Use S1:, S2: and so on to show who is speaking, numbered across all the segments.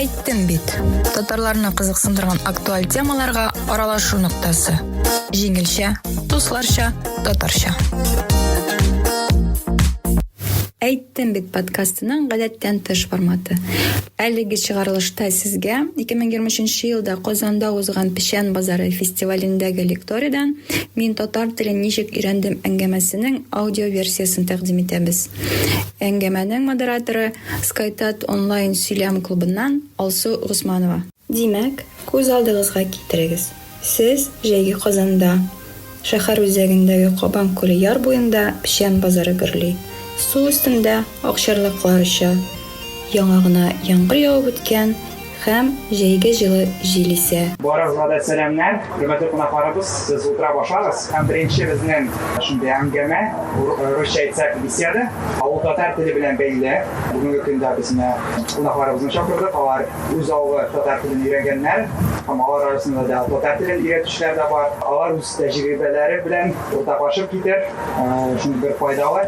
S1: Әйттем бит. Татарларны кызыксындырган актуаль темаларга аралашу ноктасы. Җиңелчә, дусларча, татарча. Әйттем бит подкастының гадәттән тыш форматы. Әлеге чыгарылышта сезгә 2023 елда Казанда узган Печән базары фестивалендәге лекториядән Мин татар телен ничек өйрәндем әңгәмәсенең аудиоверсиясен тәкъдим итәбез. Әңгәмәнең модераторы, Скайтат онлайн сөйләм клубыннан Алсу Госманова. Димәк, күз алдыгызга китерегез, сез җәйге Казанда, шәһәр үзәгендәге Кабан күле яр буенда печән базары гөрли, су өстендә акчарлаклар оча, Яңа гына яңгыр явып үткән һәм җәйге җылы җил исә. Барыгызга да сәламнәр!
S2: Хөрмәтле кунакларыбыз, сез утырап ашагыз һәм беренче безнең шундый әңгәмә, русча әйтсәк, беседа, авыл татар теле белән бәйле. Бүгенге көндә без менә кунакларыбызны чакырдык, алар үз авылы татар телен өйрәнгәннәр һәм алар арасында да татар телен өйрәтүчеләр дә бар. Алар үз тәҗрибәләре белән уртаклашып китер, шундый бер файдалы.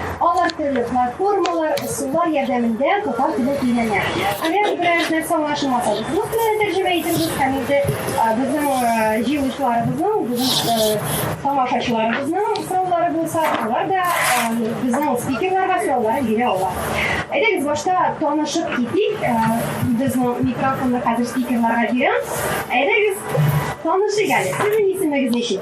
S3: Алар төрле платформалар, ысуллар ярдәмендә татар телен өйрәнә. Әгәр берәр нәрсә аңлашылмаса, рус теленә тәрҗемә итегез һәм инде безнең җыелучыларыбызның, безнең тамашачыларыбызның сораулары булса, алар да безнең спикерларга сорауларын бирә ала. Әйдәгез башта танышып китик. Безнең микрофонны хәзер спикерларга бирәм. Әйдәгез танышыйк әле. Сезнең исемегез ничек?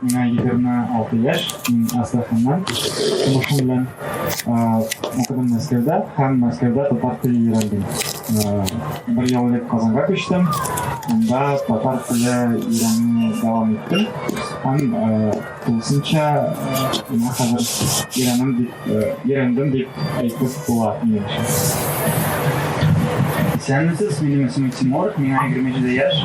S2: Миңа егерме алты яшь, мин Астраханнан, тумышым белән укыдым Мәскәүдә һәм Мәскәүдә татар теле өйрәндем. Бер ел элек Казанга күчтем, анда татар теле өйрәнү дәвам иттем һәм тулысынча миңа хәзер өйрәнем дип өйрәндем дип әйтеп була минем өчен. Исәнмесез, минем исемем Тимур, миңа егерме җиде яшь.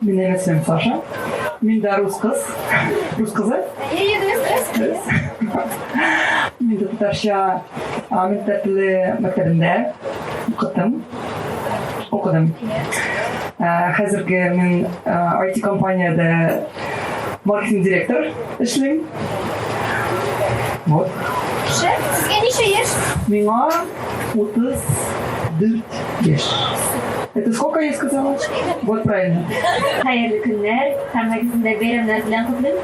S4: Минем исемем Саша. Мин дә рус кыз. Рус кызы? Мин дә татарча Амин Тәтле мәктәбендә укыдым. Укыдым. Хәзерге мин IT компаниядә маркетинг директор эшлим. Вот. Шеф, сезгә
S3: ничә яшь? Миңа
S4: 34 яшь. Это сколько я сказала? Вот правильно. Хәерле
S3: көннәр. Һәммәгезне дә бәйрәмнәр белән котлыйм.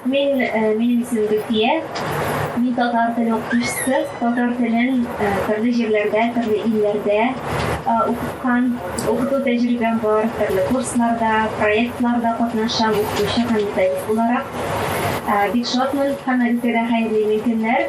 S3: Мин, э, минем исемем Гөлфия. Мин татар теле укытучысы. Татар телен э, төрле җирләрдә, төрле илләрдә э, укыткан. Укыту тәҗрибәм бар. Төрле курсларда, проектларда катнашам, укытучы һәм методист буларак. Э, Бик шатмын. Һәммәгезгә дә хәерле имин көннәр.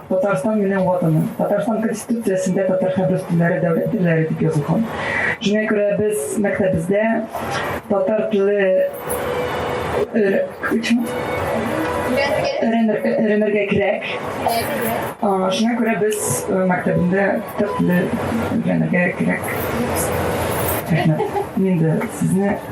S4: Татарстан минем ватаным. Татарстан конституциясендә татар һәм рус телләре дәүләт телләре дип язылган. Шуңа күрә без мәктәбебездә татар теле өйрәнергә кирәк. Шуңа күрә без мәктәбендә татар теле өйрәнергә кирәк. Рәхмәт. Мин дә сезне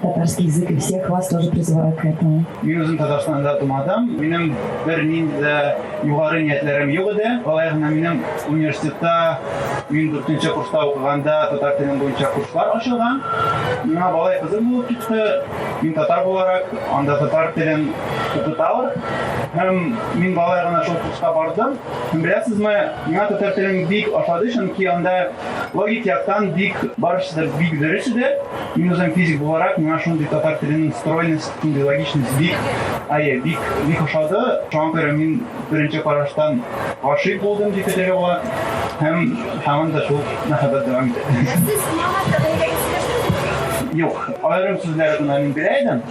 S5: татарский язык, и всех вас тоже призываю к этому. Мин үзем Татарстанда
S2: тумадым. Минем бер нинди дә югары ниятләрем юк иде. Алай гына минем университетта мин 4 курста укыганда татар телен буенча курслар ачылган. Миңа балай кызык булып китте. Мин татар буларак анда татар телен укыталар. Һәм мин балай гына шул курска бардым. Һәм беләсезме, миңа татар телен бик ошады, чөнки анда логик яктан бик барысы да бик дөрес иде. Мин үзем физик буларак миңа шундый татар теленең стройность, шундый логичность бик, әйе, бик, бик ошады. Шуңа күрә мин беренче караштан гашыйк булдым дип әйтергә була. Һәм һаман да шул мәхәббәт дәвам итә. Юк, аерым сүзләр генә мин белә идем.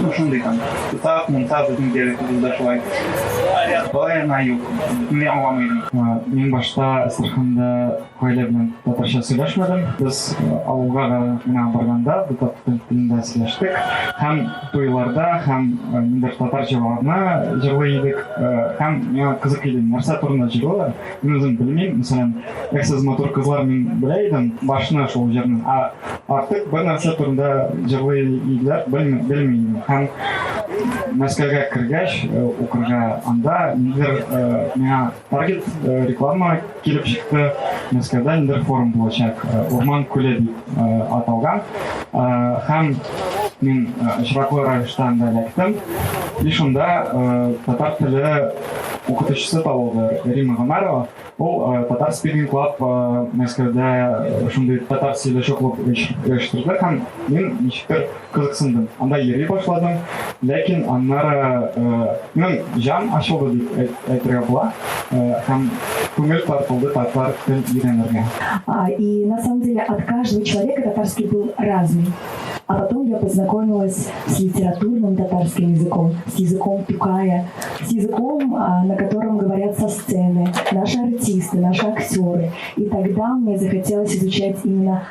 S2: Ну, шундый там. Тутак, мунта безнең диалектыбызда шулай. Болай гына юк. Мин аңламый идем. Мин башта
S6: Әстерханда Гаилә белән татарча сөйләшмәдем. Без авылга да гына барганда татар телендә сөйләштек. Һәм туйларда, һәм ниндер татар җырларны җырлый идек. Һәм миңа кызык иде, нәрсә турында җырлыйлар. Мин үзем белмим. Мәсәлән, Эх, сез матур кызлар мин белә идем, башны шул җырны. Ә артык бер нәрсә турында җырлый иделәр, белмим. Һәм Мәскәүгә кергәч, укырга анда ниндер миңа Таргет э, реклама килеп чыкты. Мәскәүдә инде форум булачак. Э, Урман күле дип э, аталган. Һәм мин очраклы рәвештә анда эләктем. И шунда татар теле укытучысы табылды Рима Гомарова. Ул татар спикинг клаб Мәскәүдә шундый татар сөйләшү клуб оештырды һәм мин ничектер кызыксындым. Анда йөри башладым. Ләкин аннары минем җан ачылды дип әйтергә була. Һәм күңел тартылды татар телен өйрәнергә. И на
S5: самом деле от каждого человека татарский был разный. А потом я познакомилась с литературным татарским языком, с языком Тукая, с языком, на котором говорят со сцены наши артисты, наши актеры. И тогда мне захотелось изучать именно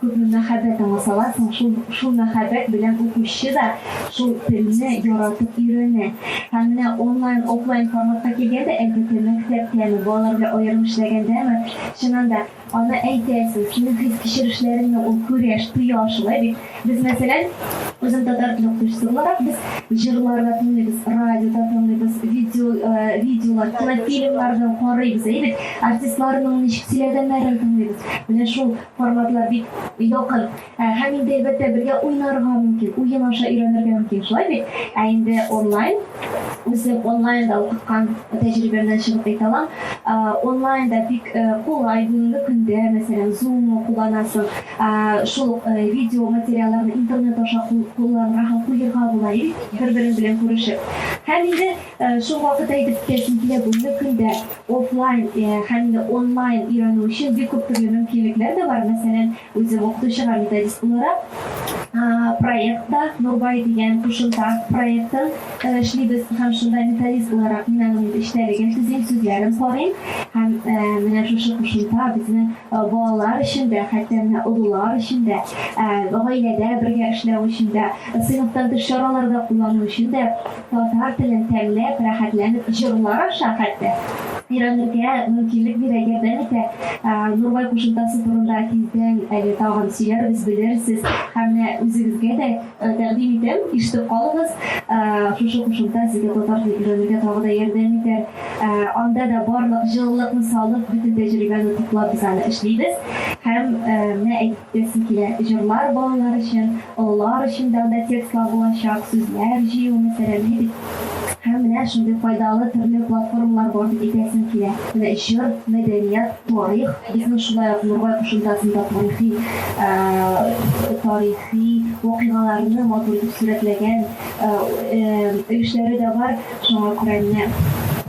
S3: Күпме мәхәббәт аңласалар соң, шул шул мәхәббәт белән укучы да шул телне яратып өйрәнә. Һәм менә онлайн, офлайн форматка килгәндә, әлбәттә, мәктәптәме, балалар белән аерым эшләгәндәме, чыннан да, аны әйтәсең, синең хис-кичерешләреңне ул күрә, тоя, шулай бит? Без, мәсәлән, үзем татар теле укытучысы буларак, без җырлар да тыңлыйбыз, радио да тыңлыйбыз, видео, видеолар, кинофильмнар да карыйбыз, әйе бит? Артистларның ничек сөйләгәннәрен тыңлыйбыз. Менә шул Форматлар бик якын һәм инде әлбәттә бергә уйнарга мөмкин, уен аша өйрәнергә мөмкин, шулай бит? Ә инде онлайн, үзем онлайнда укыткан тәҗрибәмнән чыгып әйтә алам, онлайнда бик кулай бүгенге көндә, мәсәлән, Zoom кулланасың, шул видео материалларны интернет аша кулланырга һәм куерга була, бер-берең белән күрешеп. Һәм инде Шул вакыт әйтеп китәсем килә, бүгенге көндә офлайн һәм инде онлайн өйрәнү өчен бик күп төрле мөмкинлекләр дә бар. Мәсәлән, үзем укытучыга методист буларак, проектта Нурбай дигән кушымта проектын эшлибез һәм шунда методист буларак мин аның эчтәлеген төзим, сүзләрен карыйм һәм менә шушы кушымта безнең балалар өчен дә, хәтта менә олылар өчен дә, гаиләдә бергә эшләү өчен дә, сыйныфтан тыш чараларда куллану өчен дә Татар телен тәмләп, рәхәтләнеп җырлар аша хәтта өйрәнергә мөмкинлек бирә. Ярдәм итә. Нурбай кушымтасы турында тиздән әле тагын сөйләрбез, белерсез. Һәм менә үзегезгә дә тәкъдим итәм, ишетеп калыгыз. Шушы кушымта сезгә татар телен өйрәнергә тагы да ярдәм итәр. Анда да барлык җылылыкны салып, бөтен тәҗрибәне туплап без аны эшлибез. Һәм менә Диясем килә, җырлар балалар өчен, олылар өчен дәүдә текстлар булачак, сүзләр җыю мәсьәләле бит. Һәм менә шундый файдалы төрле платформалар бар дип әйтәсем килә. Менә җыр, мәдәният, тарих, безнең шулай ук Нурбай кушымтасында тарихи тарихи вакыйгаларны матур итеп сурәтләгән өлешләре дә бар. Шуңа күрә нәкъ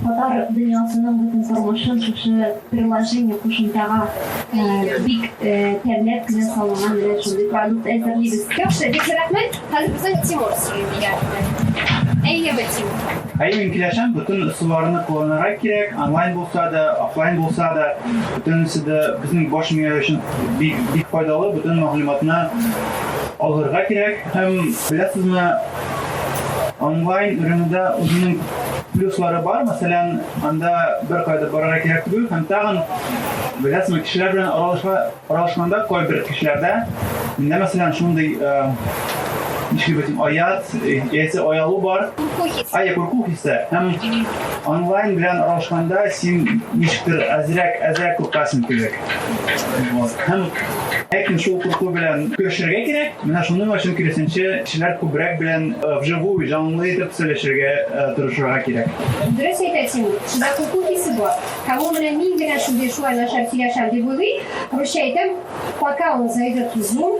S3: татар дөньясының бөтен тормышын шушы приложение, кушымтага бик тәмләп кенә салынган менә шундый продукт әзерлибез. Яхшы, бик зур рәхмәт. Хәзер безнең Тимур сорый
S2: дигән. Әйеме, Тимур? Әйе, мин киләшәм, бөтен ысулларны кулланырга кирәк, онлайн булса да, офлайн булса да, бөтенесе дә безнең баш мия өчен бик бик файдалы, бөтен мәгълүматны алырга кирәк һәм беләсезме, Онлайн уенда үзенең плюслары бар, мәсәлән, анда бер кайда барырга кирәк түгел һәм тагын беләсеңме, кешеләр белән аралашма, аралашканда кайбер кешеләрдә миндә мәсәлән шундый ничек бит аят, яисә оялу бар. Курку хисе. Ая курку хисе. Һәм онлайн белән аралашканда син ничектер әзрәк, әзрәк куркасың кебек. Һәм ләкин шул курку белән көрәшергә кирәк. Менә шуның өчен киресенчә кешеләр күбрәк белән вживую, җанлы итеп сөйләшергә тырышырга кирәк. Дөрес әйтәсең,
S3: шунда курку хисе бар. Һәм ул менә мин генә шундый шулай начар сөйләшәм дип уйлый. Русча әйтәм, пока он зайдет в Zoom,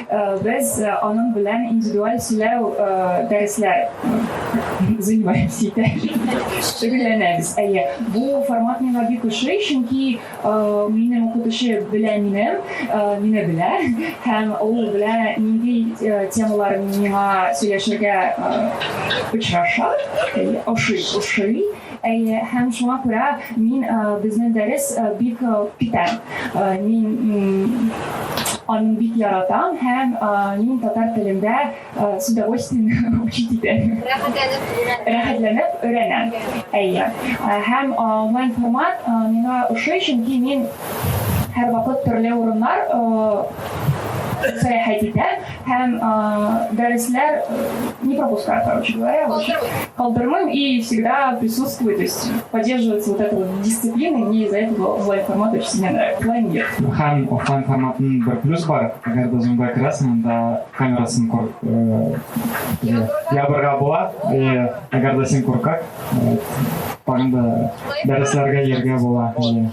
S5: Без аның белән индивидуаль сөйләү дәресләр занимаемся шөгыльләнәбез әйе бу формат миңа бик ошый чөнки минем укытучы белә мине мине белә һәм ул белә нинди темалар миңа сөйләшергә очраша ошый ошый Әйе, һәм шуңа күрә мин безнең дәрес бик питә. Мин аны бик яратам һәм мин татар телендә с удовольствием учить итәм. Рәхәтләнеп өйрәнәм. Әйе. Һәм онлайн формат миңа ошый, чөнки мин һәрвакыт төрле урыннар сәяхәт итәм. һәм
S7: дәресләр не пропускаю, короче говоря, вообще калдырмыйм и всегда присутствую, то есть поддерживается вот эта вот дисциплина, и мне из-за этого онлайн формат очень сильно нравится. Офлайн нет. Һәм офлайн
S6: форматын бір плюс бар, әгәр дә зумда керәсең, анда камерасын кор, ябырга була, әгәр дә син куркак, тагын да дәресләргә йөргә була.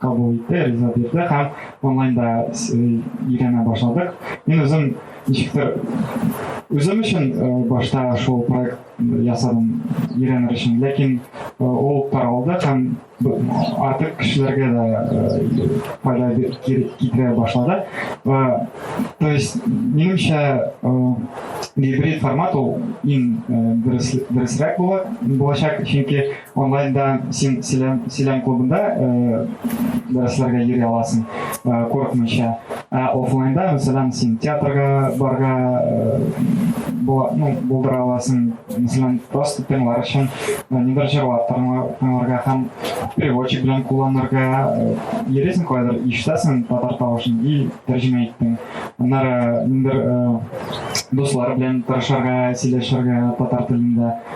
S6: кабул итте, риза бирде һәм онлайнда өйрәнә башладык. Мин үзем ничектер үзем өчен башта шул проект ясадым өйрәнер өчен, ләкин ул таралды һәм артык кешеләргә дә файда китерә башлады. То есть, минемчә, гибрид формат ул иң дөресрәк булачак, чөнки Онлайнда син сөйләм, сөйләм клубында ә, дәресләргә йөри аласың, ә, курыкмыйча. Ә офлайнда, мәсәлән, син театрга барга ә, була, ну, булдыра аласың, мәсәлән, просто тыңлар өчен ә, нидер җырлап тыңларга һәм переводчик белән кулланырга ә, йөрисең кайдыр, ишетәсең татар тавышын и тәрҗемә иттең. Аннары нидер ә, дуслар белән тырышырга, сөйләшергә татар телендә.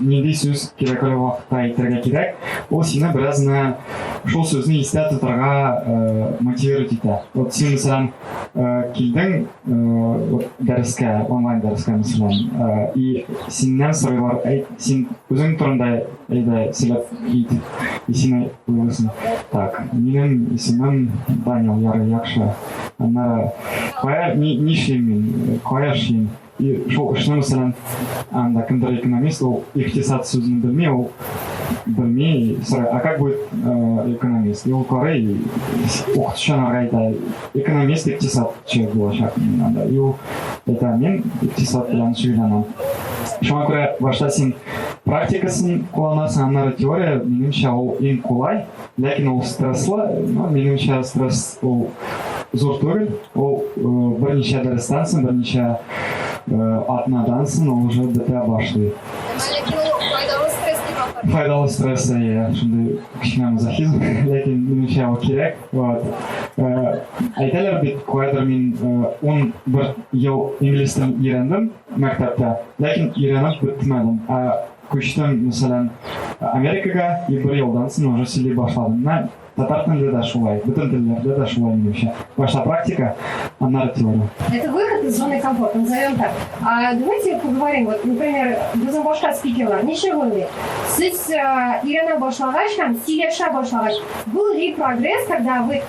S6: нинди сүз кирәк әле вакытта әйтергә кирәк, ул сине беразны шул сүзне истә тотарга э, мотивировать итә. Вот син, мәсәлән, э, килдең э, дәрескә, онлайн дәрескә, мәсәлән, э, и синнән сорыйлар, әй, син үзең турында әйдә сөйләп итеп, и сине уйлыйсың. Так, минем исемем Данил, ярый, яхшы. Аннары, кая, ни, ни эшлим мин, кая эшлим? И шул эшне мәсәлән анда кемдер экономист ул икътисад сүзен белми ул белми сорай а как будет э, экономист и ул карый укытучыны әйтә экономист икътисадчы булачак анда и ул әйтә мин икътисад белән шөгыльләнәм шуңа күрә башта син практикасын кулланасың аннары теория минемчә ул иң кулай Ләкин ул стресслы, минемчә стресс ул зур түгел, ул берничә дәрестән соң, берничә атнадан соң ул уже бетә башлый. Ләкин ул файдалы стресс дип атар. Файдалы стресс, иә, шундый кечкенә мазохизм, ләкин минемчә ул кирәк. Вот. Әйтәләр бит, куәдер мин 11 ел инглиз телен өйрәндем мәктәптә, ләкин өйрәнеп бетмәдем. Күчтем, мәсәлән, Америкага и бер елдан соң уже сөйли башладым. Менә татар телендә дә шулай, бөтен телләрдә дә шулай минемчә. Башта практика, аннары теория. Это выход из зоны
S3: комфорта, назовем так. А давайте поговорим, вот, например, безнең башка спикерлар, ничек уйлый? Сез э, өйрәнә башлагач һәм сөйләшә башлагач, был ли прогресс, когда вы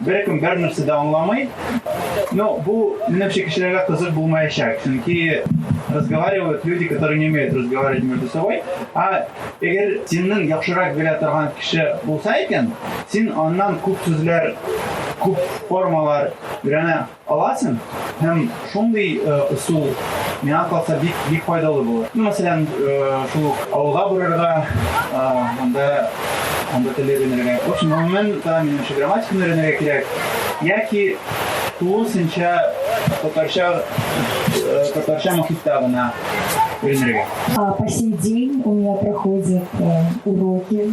S2: беркем бернәрсә дә аңламый. Но бу, минемчә, кешеләргә кызык булмаячак, чөнки разговаривают люди, которые не умеют разговаривать между собой. А эгер синнең яхшырак белә торган кеше булса икән, син аннан күп сүзләр, күп формалар өйрәнә аласың һәм шундый э, ысул миңа калса бик бик файдалы булыр ну мәсәлән э, шул ук авылга барырга э, анда анда тел өйрәнергә в общем гомумән да минемчә грамматиканы өйрәнергә кирәк яки тулысынча татарча татарча мохитта гына По сей день у меня
S5: проходят уроки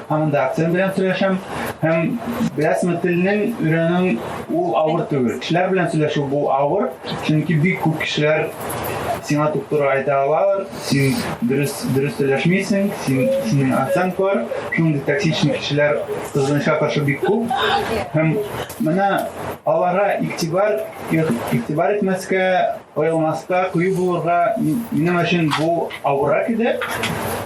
S2: Һаман да акцент белән сөйләшәм. Һәм беләсме, телнең өйрәнү ул авыр түгел. Кешеләр белән сөйләшү бу авыр, чөнки бик күп кешеләр сиңа туп-туры әйтә алалар, син дөрес дөрес сөйләшмисең, син синең акцент бар, шундый токсичный кешеләр кызганычка каршы бик күп. Һәм менә аларга игътибар игътибар итмәскә
S8: Коелмаска, кыю булырга минем өчен бу авыррак иде.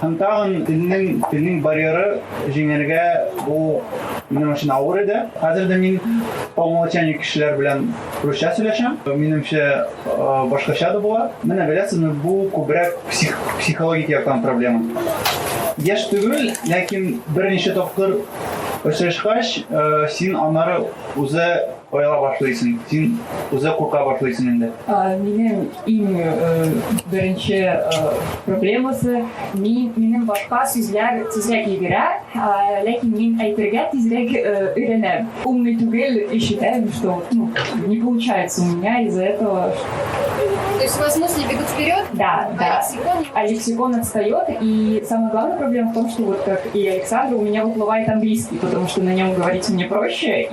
S8: Һәм тагын телнең, телнең барьеры җиңәргә бу минем өчен авыр иде. Хәзер дә мин по умолчанию кешеләр белән русча сөйләшәм. Минемчә, башкача да була. Менә беләсезме, бу күбрәк псих, психологик яктан проблема. Яшь түгел, ләкин берничә тапкыр очрашкач, син аннары үзе Ояла башлыйсың. Син үзе курка башлыйсың инде. Минем
S7: иң беренче проблемасы мин минем башка сүзләр тизрәк йөгерә, ләкин мин әйтергә тизрәк өйрәнәм. Умный түгел и считаем, что ну, не получается у меня из-за этого. То есть
S3: у вас мысли бегут вперед, да, а да. лексикон...
S7: А лексикон отстает, и самая главная проблема в том, что вот как и Александр, у меня выплывает английский, потому что на нем говорить мне проще,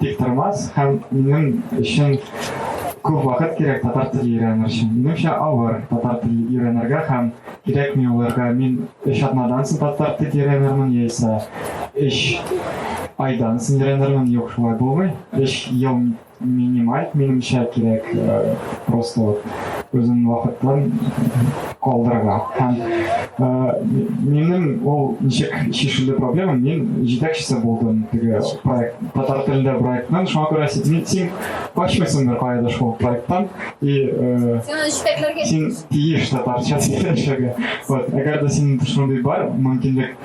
S6: Тиктормас һәм минем өчен күп вакыт кирәк татар теле өйрәнер өчен. Минемчә авыр татар теле өйрәнергә һәм кирәкми уларга. Мин өч атнадан соң татар теле өйрәнермен яисә өч айдан соң өйрәнермен. Юк, шулай булмый. Өч ел минималь, минемчә кирәк э, просто вот. үзен вакытлы калдырырга һәм минем ул ничек шешелде проблема мин җитәкчесе булдым теге проект татар телендә проектның шуңа күрә син син качмыйсыңдыр каяда шул проекттан и син тиеш татарча сөйләшергә вот әгәр дә синең шундый бар мөмкинлек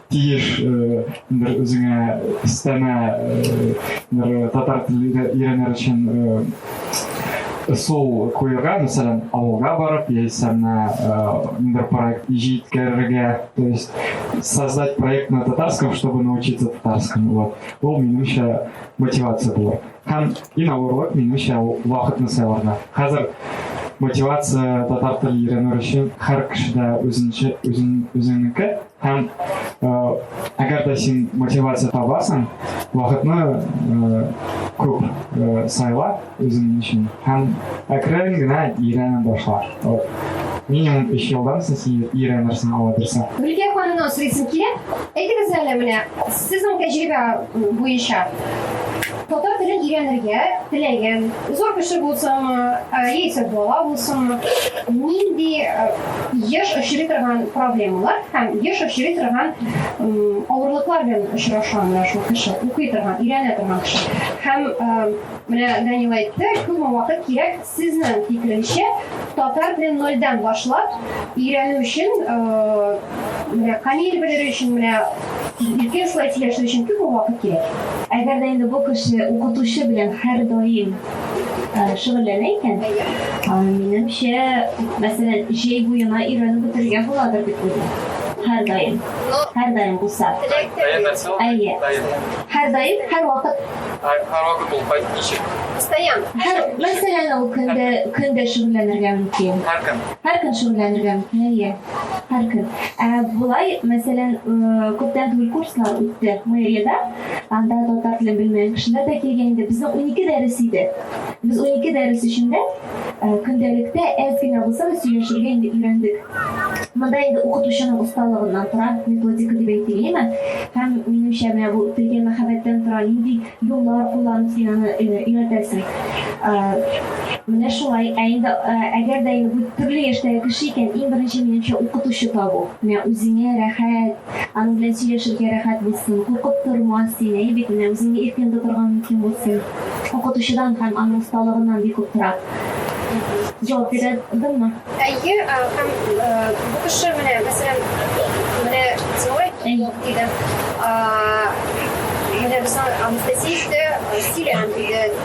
S6: тиеш бер үзеңә өстәмә бер татар телен өйрәнер өчен сул куюга, мәсәлән, авылга барып, яисә менә бер проект җиткерергә, то есть создать проект на татарском, чтобы научиться татарскому. Вот. Ул минемчә мотивация булыр. Һәм иң авырлык минемчә вакытны сайларга. Хәзер мотивация татар телен өйрәнер өчен һәр кешедә үзенчә үзен үзенеке Һәм әгәр дә син мотивация табасың, вакытны күп сайла үзең өчен һәм әкрен генә өйрәнә башла. Минимум 3 елдан соң син өйрәнерсең алабырса. Гөлкә ханымның
S3: сорыйсым килә. Әйтегез әле менә, сезнең тәҗрибә буенча Татар телен өйрәнергә теләгән, зур кеше булсамы, яисә бала булсамы, нинди еш очрый торган проблемалар һәм еш очрый торган авырлыклар белән очраша менә шул кеше, укый торган, өйрәнә торган кеше. Һәм менә Данил әйтте, күпме вакыт кирәк Сезнең фикереңчә, татар телен нольдән башлап өйрәнү өчен, менә камил белер өчен, менә Иркен шулай сөйләшү өчен күпме вакыт кирәк? Әгәр дә инде бу
S9: кеше укытучы белән һәрдаим шөгыльләнә икән, минемчә, мәсәлән, җәй буена өйрәнеп бетерергә буладыр дип уйлыйм. Һәрдаим, һәрдаим булса. Әйе, һәрдаим, һәрвакыт Һавалы
S10: булгач ничек? Постоянно. Һәр
S3: мәсьәләне
S9: ул көндә көндә шөгыльләнергә мөмкин. Һәр көн. Һәр көн шөгыльләнергә мөмкин. Әйе. Һәр көн. Ә болай, мәсәлән, күптән түгел курслар үтте мэриядә. Анда татар телен белмәгән кешеләр дә килгән иде. Безнең 12 дәрес иде. Без 12 дәрес эчендә Э, көндәлектә әз генә булса да сөйләшергә инде өйрәндек. Монда инде укытучының осталыгыннан тора, методика дип әйтелеме? Һәм минемчә менә бу телгә мәхәббәттән тора, нинди юллар кулланып син аны э, өйрәтәсең. Э, менә шулай. Ә инде әгәр дә инде төрле яшьтәге кеше икән, иң беренче минемчә укытучы табу. Менә үзеңә рәхәт, Аның белән сөйләшергә рәхәт булсын, куркып тормас, син, әйе бит, менә үзеңне иркен тотырга мөмкин булсын. Укытучыдан һәм аның осталыгыннан бик күп тора. Җавап бирә дыңмы? Әйе, һәм бу кеше менә, мәсәлән, менә Зоя диде. Менә безнең Анастасия
S3: дә сөйләгән иде.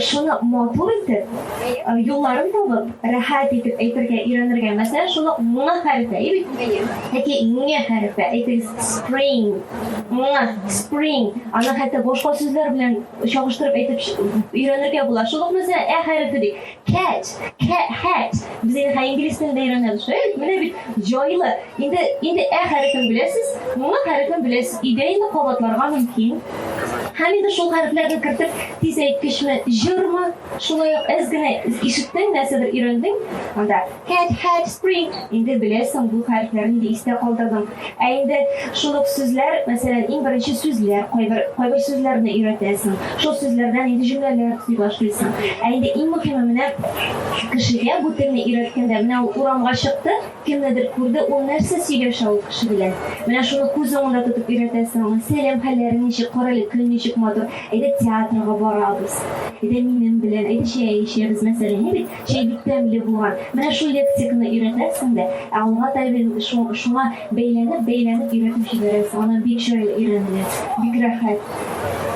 S9: шуны матур итеп, юлларын табып, рәхәт итеп әйтергә өйрәнергә. Мәсәлән, шуны муңа хәрефе, яки муңа хәрефе, әйтегез, spring, муңа, spring, аны хәтта башка сүзләр белән чагыштырып әйтеп өйрәнергә була. Шул ук мәсәлән, ә хәрефе ди. Cat, cat, hat. Без инде хәй инглиз телендә өйрәнәбез. Әй, менә бит җайлы. Инде инде ә хәрефен беләсез, моңа хәрефен беләсез. Өйдә инде кабатларга мөмкин. Һәм инде шул хәрефләрне кертеп, тиз әйткечме, җырмы, шулай ук әз генә ишеттең, нәрсәдер өйрәндең, анда Һәт, һәт, спринг! Инде беләсең бу хәрефләр нинди истә калдырдың. Ә инде шул ук сүзләр, мәсәлән, иң беренче сүзләр, кайбер, кайбер сүзләрне өйрәтәсең. Шул сүзләрдән инде җөмләләр төзи башлыйсың. Ә инде иң мөһиме менә кешегә бу телне өйрәткәндә, менә ул урамга чыкты, кемнедер күрде, ул нәрсә сөйләшә ул кеше белән. Менә шуны күз уңында тотып өйрәтәсең аңа. Сәлам, хәлләрең ничек, карале, көн ничек матур. Әйдә театрга барабыз. Әйдә минем белән, әйдә чәй эчәбез, мәсәлән, ә бит. Чәй бик тәмле булган. Менә шул лексиканы өйрәтәсең дә, ә алга таба шуңа бәйләнеп, бәйләнеп өйрәтеп җибәрәсең. Аннан бик җайлы өйрәнелә, бик рәхәт.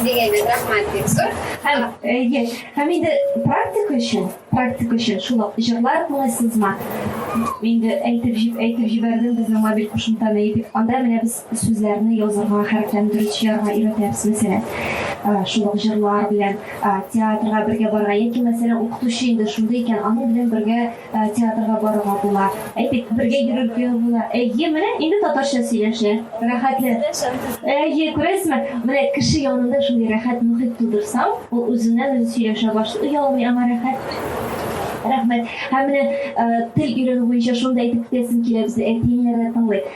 S9: дегенде рахмат бик
S3: зур һәм әйе
S9: һәм инде практика өчен практика өчен шул ук җырлар тыңлыйсызмы инде әйтеп әйтеп җибәрдем безнең мобиль кушымтаны итеп анда менә без Сүзләрне язырга, хәрефләндерү чыярга өйрәтәбез, мәсәлән, шул ук җырлар белән театрга бергә барырга, яки, мәсәлән, укытучы инде шундый икән, аның белән бергә театрга барырга була. Әйтик, бергә йөрергә була. Әйе, менә инде татарча сөйләшә, рәхәтле. Әйе, күрәсезме? Менә кеше янында шундый рәхәт мөхит тудырсаң, ул үзеннән-үзе сөйләшә башлый, оялмый, аңа рәхәт. Рәхмәт. Һәм менә тел өйрәнү буенча шуны да әйтеп китәсем килә, безне әти-әниләр дә тыңлый.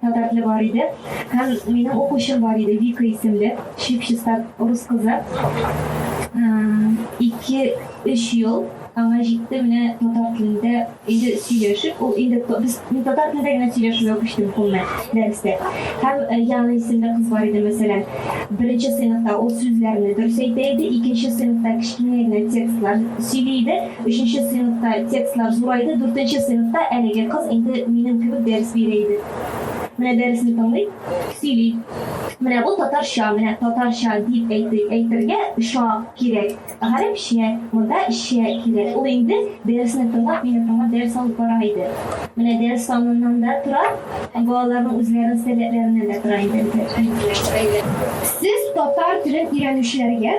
S9: Татартлы бар иде һәм минем укучым бар иде, Вика исемле, чип-чиста рус кызы. Ике, өч ел аңа җитте менә татар телендә инде сөйләшеп, ул инде без мин татар телендә генә сөйләшүгә күчтем кулны дәрестә. Һәм э, Яна исемле кыз бар иде, мәсәлән, беренче сыйныфта ул сүзләрне дөрес әйтә иде, икенче сыйныфта кечкенә генә текстлар сөйли иде, Өченче сыйныфта текстлар зурайды, дүртенче сыйныфта әлеге кыз инде минем кебек дәрес бирә иде. Менә дәресне тыңлый, сөйли. Менә бу татарча, менә татарча дип әйтик, әйтергә ча кирәк, гарәпчә, монда чә кирәк. Ул инде дәресне тыңлап, мине тыңлап дәрес алып бара иде. Менә дәрес саныннан да тора, балаларның үзләренең сәләтләреннән дә тора инде. Сез
S3: татар телен өйрәнүчеләргә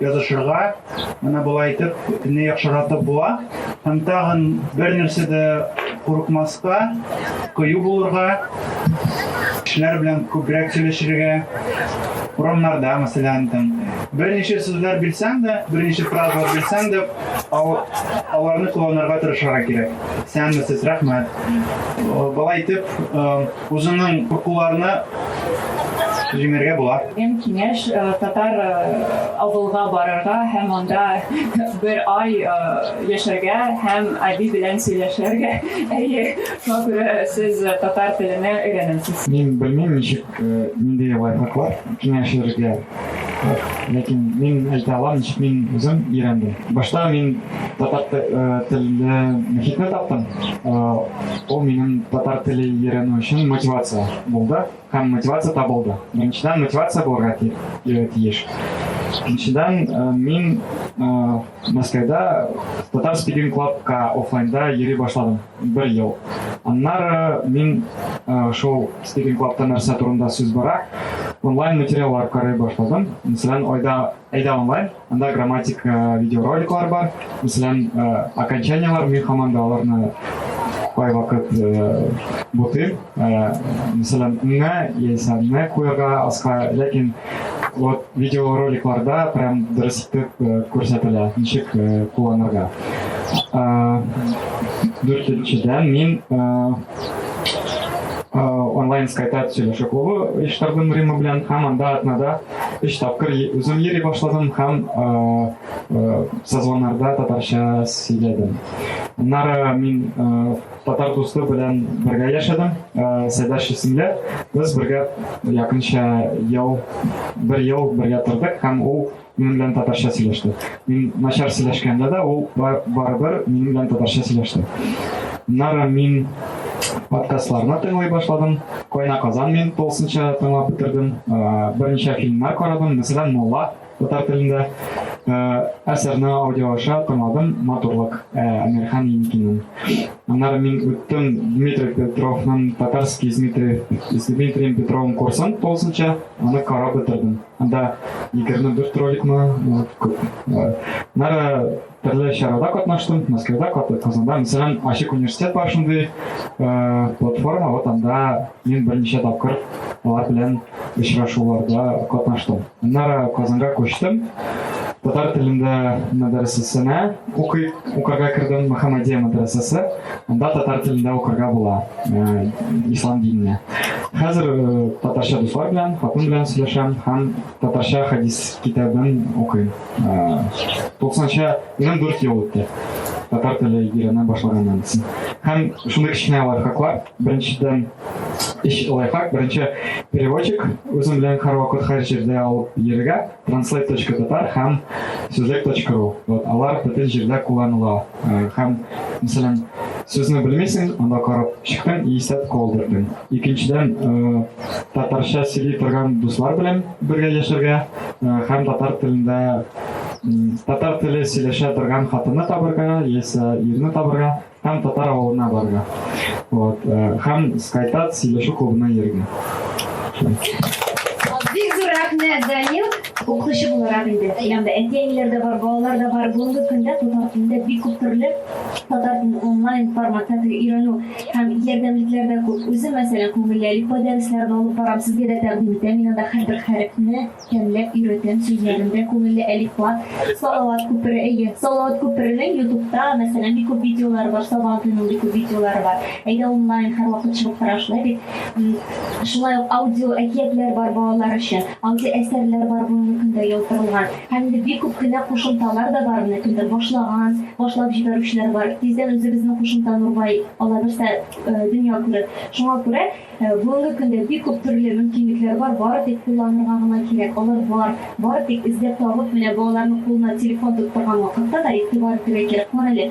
S8: язышырга, менә болай итеп не яхшыратып була. Һәм тагын бер нәрсә дә курыкмаска, кыю булырга, кешеләр белән күбрәк сөйләшергә, урамнарда, мәсәлән, там берничә сүзләр белсәң дә, берничә фразалар белсәң дә, аларны кулланырга тырышырга кирәк. Сәнмесез, рәхмәт. Э, Бала итеп, э, Үзеңнең куркуларны җиңәргә була. Иң киңәш э,
S7: татар э, авылга барырга һәм анда бер ай э, яшәргә һәм әби белән сөйләшергә. Әйе, күрә сез татар теленә өйрәнәсез. Мин белмим, ничек,
S6: нинди лайфхаклар киңәшергә. Ләкин мин әйтә алам, ничек мин үзем өйрәндем. Башта мин татар э, телле мөхитне таптым. Э, ул минем татар теле өйрәнү өчен мотивация булды һәм мотивация табылды. Беренчедән мотивация булырга э, тиеш. Икенчедән мин Мәскәүдә татар спикинг клубка офлайнда йөри башладым. Бер ел. Аннары мин шул Стивен Клабта нәрсә турында сүз бара, онлайн материаллар карый башладым. Мәсәлән, айда әйдә онлайн, анда грамматик видеороликлар бар. Мәсәлән, окончаниелар, мин һаман да аларны кайвакыт бутыйм. Мәсәлән, мә яисә мә куярга аска, ләкин вот видеороликларда прям дөрес итеп күрсәтелә, ничек кулланырга. Дүртенчедән мин онлайн скайпта сөйләшү клубы оештырдым Рима белән һәм анда атнада өч тапкыр үзем йөри башладым һәм созвоннарда татарча сөйләдем. Аннары мин Татар дусты белән бергә яшәдем, Сәйдәш исемле. Без бергә якынча ел, бер ел бергә тордык һәм ул минем белән татарча сөйләште. Мин начар сөйләшкәндә дә ул барыбер минем белән татарча сөйләште. Нара мин подкастларны тыңлый башладым. Кайна казан мин тулысынча тыңлап бетердем. Берничә фильмнар карадым, мәсәлән, Мулла Татар телендә әсәрне аудио аша тыңладым, матурлык Әмирхан Еникинен. Аннары мин үттем Дмитрий Петровның татарский с Дмитрием Петровым курсын тулысынча, аны карап бетердем. Анда 24 роликмы, күп. Аннары Төрле чарада катнаштым, Мәскәүдә катып, Казанда. Мәсәлән, ачык университет бар шундый э, платформа, вот анда мин берничә тапкыр алар белән очрашуларда катнаштым. Аннары Казанга күчтем. Татар телендә мәдрәсәсенә укый, укырга кердем, Мөхәммәдия мәдрәсәсе. Анда татар телендә укырга була, э, ислам диненә. Хәзер э, татарча дуслар белән, хатын белән сөйләшәм һәм Татарча хадис китабын укыйм. Туксанча минем дүрт ел үтте. Татар теле өйрәнә башлаганнан соң. Һәм шундый кечкенә лайфхаклар. Беренчедән, эш лайфхак. Беренче переводчик үзем белән һәрвакыт һәр җирдә алып йөрергә. Translate.tatar һәм сүзлек.ру. Вот алар бөтен җирдә кулланыла. Һәм, мәсәлән, сүзне белмисең, анда карап чыктың, исәп калдырдың. Икенчедән, татарча сөйли торган дуслар белән бергә яшәргә һәм татар телендә татар теле сөйләшә торган хатынны табырга, яисә ирне табырга һәм татар авылына барырга. Вот, һәм Скайтат сөйләшү клубына йөрергә.
S3: Бик зур рәхмәт, Данил. Укытучы буларак
S9: инде, янымда әти-әниләр дә бар, балалар да бар. Бүгенге көндә татар телендә бик күп төрле татар телен онлайн форматта өйрәнү һәм ярдәмлекләр дә күп. Үзем, мәсәлән, күңелле әлифба дәресләрен алып барам, сезгә дә тәкъдим итәм. Мин анда һәрбер хәрефне тәмләп өйрәтәм, сүзләрен дә күңелле әлифба. Салават күпере, әйе. Салават күперенең Ютубта, мәсәлән, бик күп видеолары бар, Сабан туеның бик күп видеолары бар. Әйдә онлайн һәрвакыт чыгып тора шулай бит. Шулай ук аудио әкиятләр бар балалар өчен. Андый әсәрләр бар бүгенге көндә яздырылган. Һәм инде бик күп кенә кушымталар да бар, менә кемдер башлаган, башлап җибәрүчеләр бар. Тиздән үзебезнең кушымта Нурбай ала берсә дөнья күрер. Шуңа күрә бүгенге көндә бик күп төрле мөмкинлекләр бар, бары тик кулланырга гына кирәк. Алар бар, бары тик эзләп табып, менә балаларның кулына телефон тоттырган вакытта да игътибар итәргә кирәк. Карале,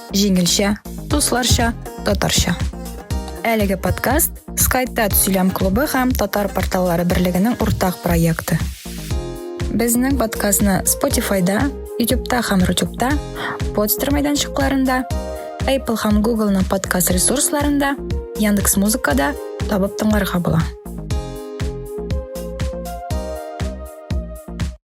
S1: Җиңелчә, дусларча, татарча. Әлеге подкаст Скайтат сөйләм клубы һәм Татар порталлары берлегенең уртак проекты. Безнең подкастны Spotify-да, YouTube-та һәм YouTube-та, Podster мәйданчыкларында, Apple һәм Google-ның подкаст ресурсларында, Яндекс Музыкада табып тыңларга була.